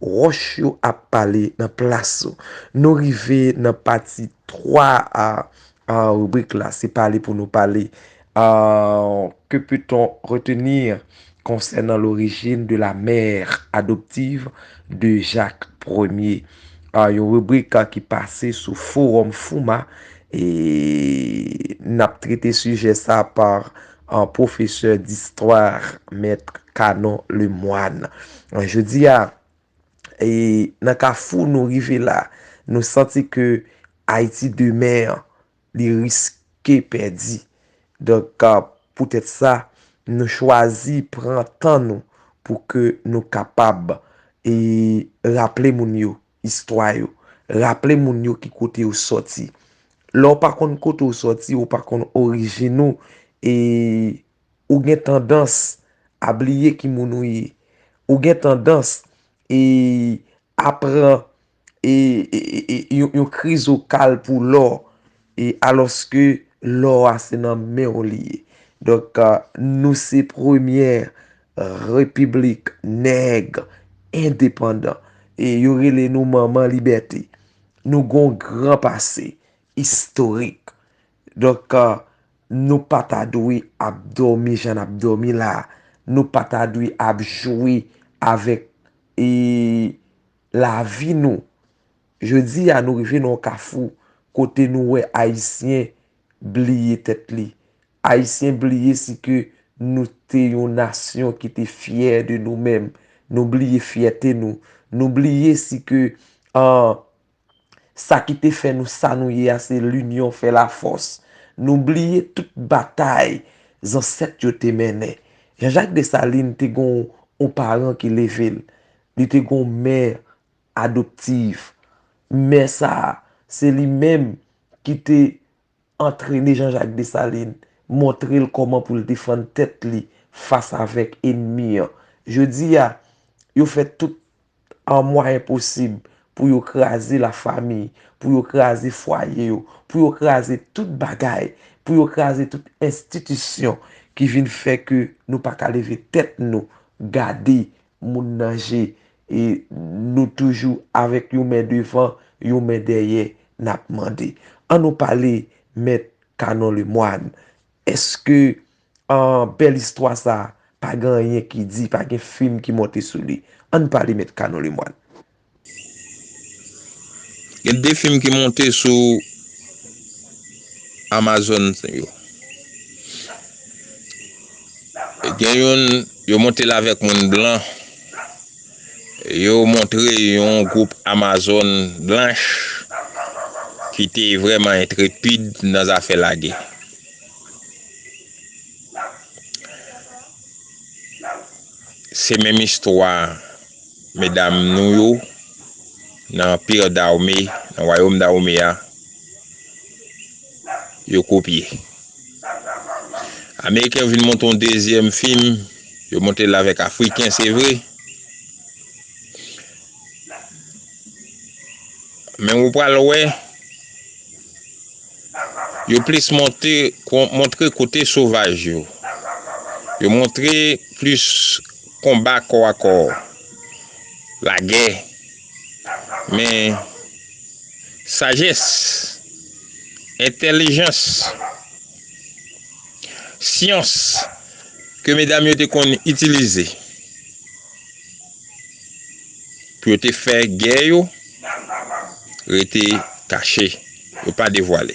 Ròch yo ap pale nan plas ou. Nou rive nan pati 3 a ribrik la, se pale pou nou pale. Que peut-on retenir concernant l'origine de la mère adoptive de Jacques Ier? Yon ribrik ki pase sou forum FOUMA e n ap trete sijè sa par An pwofesè distwa Maitre Canon Lemoine. An jodi a, e nan kafou nou rive la, nou santi ke Ayiti demen an, li riske pèdi. Donk, poutèt sa, nou chwazi pran tan nou pou ke nou kapab e raple moun yo Istwa yo. Raple moun yo ki kote yo soti. Lè w pa konn kote w soti, ou pa konn orijin ou, e ou gen tandans a bliye ki moun ou ye. Ou gen tandans e a pran e yon krizokal pou lò. E alòske lò a se nan men w li ye. Donk nou se premyè repiblik nèg endepandan. E yo rele nou manman libète. Nou gen yon gran pase istorik. Donk nou pa ta dwe ap dòmi jan n ap dòmi la. Nou pa ta dwe ap jwe avèk lavi nou. Jodi a nou rive nan yon kafou kote nou wè Ayisyen bliye tèt li. Ayisyen bliye si ke nou te yon nasyon ki te fyè de nou menm. Nou bliye fyète nou. Nou bliye si ke sa ki te fè nou sa nou ye a se linyon fè lafòs. Nou bliye tout batay zansèt yo te mennen. Jean Jacques Dessalines te gen yon paran ki leve l. Li te gen yon mè adoptif. Mè sa a, se li menm ki te antrene Jean-Jacques Dessalines, montre l kòman pou l defann tèt li fas avèk enmi an. Jodi a, yo fè tout an mwayen posib pou yo kraze lafami, pou yo kraze fwaye yo, pou yo kraze tout bagay, pou yo kraze tout enstitisyon ki vin fè ke nou pa ka leve tèt nou gade Moun nan je e nou toujou avèk yon men devan yon men dèyè nap mande an nou pale mèt Canon Lemoine eske bèl istwa sa pa gen anyen ki di pa gen fim ki monte sou li ann pale mèt Canon Lemoine. Gen de fim ki monte sou Amazon yo. E gen youn, yo monte l avèk moun blan. E yo montre yon gwoup Amazon blanch ki te vrèman entrepid nan zafè lagè. Se menm istwa Medam nou yo nan Anpir Dawome, nan Wayom Dawome a, yo kopye. Ameriken yo vin monte yon dezyèm fim, yo monte l avèk Afriken se vre, men ou pral wè, yo plis monte, montre kote sovaj yo. Yo montre plis. Konba kò a kò, lagè, men sajès, entèlijans, syans ke medam yo te konn itilize pou yo te fè gè yo rete kache, yo pa devwale.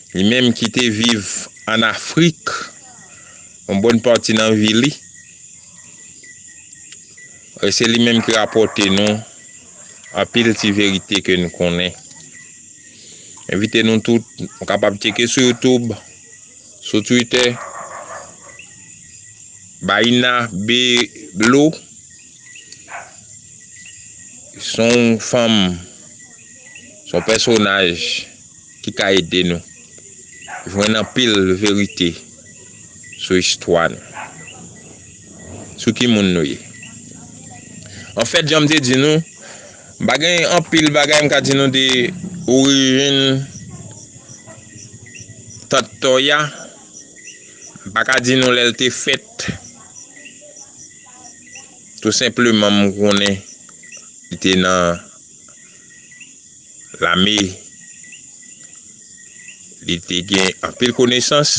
Li menm ki te viv an Afrik yon bòn pati nan vi li, e se li menm ki rapòte nou anpil ti verite ke nou konnen. M envite nou tout, nou kapab tcheke sou youtube, sou twitter, Baïna Bello, s on fanm, s on pèsonaj. ki ka ede nou jwenn anpil verite sou istwa nou, sou ki moun nou ye. Anfèt, jan m te di nou, m pa gen anpil bagay m ka di nou de orijin Tant Tòya. M pa ka di nou lè l te fèt. Tou senpleman m konnen li te nan. Lame, li te gen anpil konesans,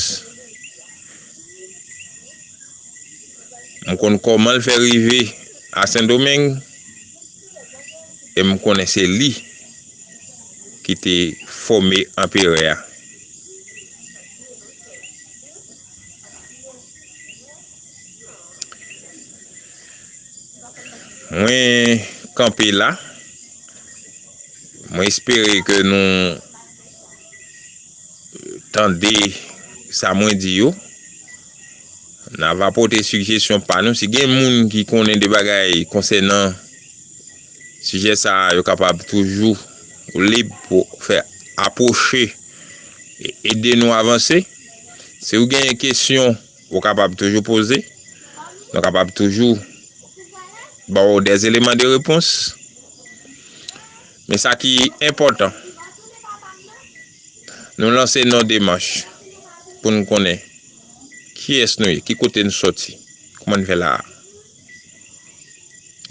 m konn kòman l fè rive a Sendomeng, e m konnen se li ki te fòme anperè a. Mwen kanpe la, mwen espere ke nou tande sa mwen di yo, na va pote sijesyon pa nou, si gen moun ki konnen de bagay konsènan sijè sa yo kapab toujou lib pou fè apwoche e ede nou avanse, si ou gen kesyon. Ou kapab toujou poze. Nou kapab toujou ba ou des eleman de repons. Men sa ki enpòtan, nou lanse nou demach pou nou konnen kiyès nou ye, ki kote nou soti, kouman nou fè la a.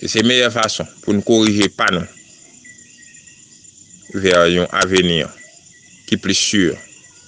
E se meyè fason pou nou korije pa nou vè yon aveni ki plis si.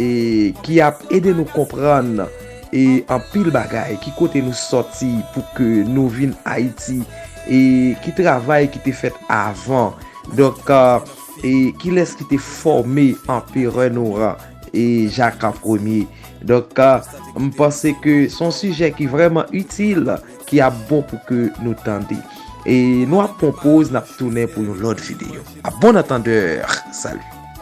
E ki ap ede nou konprann e anpil bagay ki kote nou soti pou ke nou vin ayiti e ki travay ki te fèt avan donk e kilès ki te fòme anperè nou an e jaka premye donk m panse ke son sijè ki vrèman itil ki ap bon pou ke nou tande e nou ap pon poz nap tounen pou yon lòt videyo a bon antandè salu.